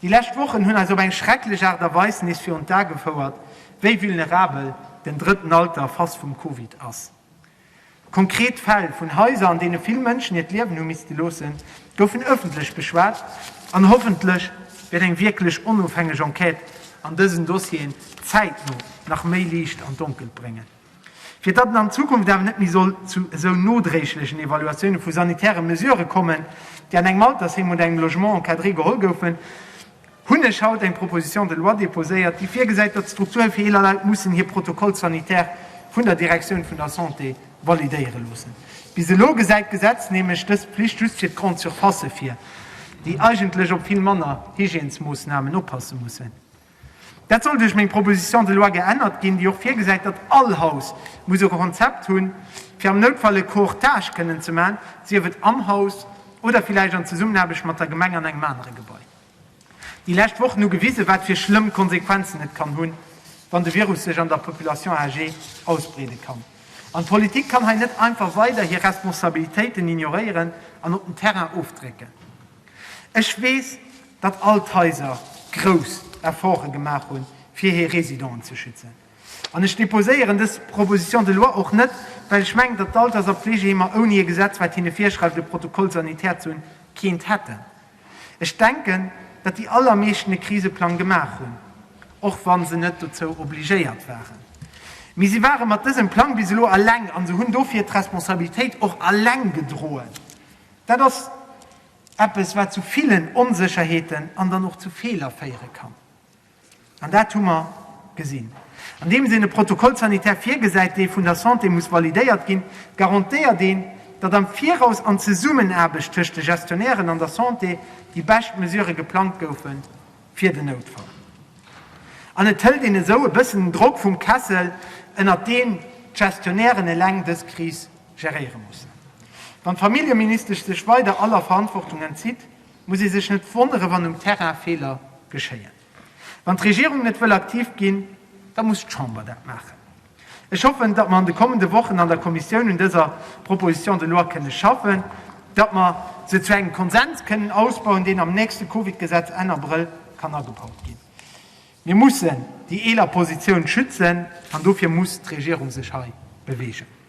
Déi lescht Wochen hunn eis op eng schrecklech Aart a Weis nees virun d'A gefouert, wéi vulnerabel den drëtten Alter face vum Covid ass. Konkret Fäll vun Haiser, an deene vill Mënschen hiert Liewen hu misste loossen, goufen ëffentlech beschwat an hoffentlech wäert eng wierklech onofhängeg Enquête an dësen Dossieren zäitno nach méi Liicht an d'Donkelt bréngen. Fir datt et an Zukunft awer net méi soll zu esou nodréiglechen Evaluatioune vu sanitäre Mesurë kommen, déi an engem Altersheem oder engem Logement encadré geholl goufen, hunn ech haut eng Proposition de loi déposéiert, déi virgesäit, datt d'Strukture fir eeler Leit mussen hir Protocoles sanitaires vun der Direktioun vun der Santé validéiere loossen. Bis elo gesäit d'Gesetz nämlech dës Pflicht just fir d'Grandes surfaces vir, déi eigentlech op vill manner Hygiènesmoossnamen oppasse mussen. Dat soll duerch meng Proposition de loi geännert ginn, déi och virgesäit, datt all Haus muss e Konzept hunn, fir am Noutfall e Courtage kënnen ze maachen, sief et am Haus oder villäicht an Zesummenaarbecht mat der Gemeng an engem anere Gebai. Déi lescht Wochen hu gewisen, wat fir schlëmm Konsequenzen et kann hunn, wann de Virus sech an der Population âgée ausbreede kann. An d'Politik kann hei net einfach weider hir Responsabilitéiten ignoréieren an op den Terrain ofdrécken. Ech weess, datt all d'Haiser grouss Efforte gemaach hunn, fir hir Residenten ze schützen. An ech deposéieren dës Proposition de loi och net, well ech mengen, datt d'Alters a Pflegeheemer ouni e Gesetz, wat hinne virschreift, e Protocole sanitaire ze hunn, keent hätten. Ech denken, datt déi allermeeschten e Kriseplang gemaach hunn, och wa se net dozou obligéiert waren. Mee si ware mat dësem Plang bis elo eleng a se hunn dofir d'Responsabilitéit och eleng gedroen. Dat ass eppes, wat zu villen Onsécherheeten an dann och zu Feeler féiere kann. An dat hu mer gesinn. Andeems een e Protocole sanitaire virgesäit, dee vun der Santé muss validéiert ginn, garantéiert een, datt am Viraus an Zesummenaarbecht tëscht de Gestionnairen an der Santé déi bescht Mesurë geplangt goufe fir den Noutfall. An et hëlt een esou e bëssen den Drock vum Kessel, ënnert deen d'Gestionnairen eleng dës Kris geréiere mussen. Wann d'Familljeministesch sech weider aller Verantwortung entzitt, muss ee sech net wonnere wann um Terrain Feeler geschéien. Wann d'Regierung net wëll aktiv ginn, da muss d'Chamber dat maachen. Ech hoffen, datt mer an de kommende Wochen an der Kommissioun un dëser Proposition de loi kënne schaffen, datt mer se zu engem Konsens kënnen ausbauen, deen am nächste Covid-Gesetz Enn Abrëll kann agebaut ginn. Mir mussen déi eeler Positioun schützen an dofir muss d'Regierung sech hei beweegen.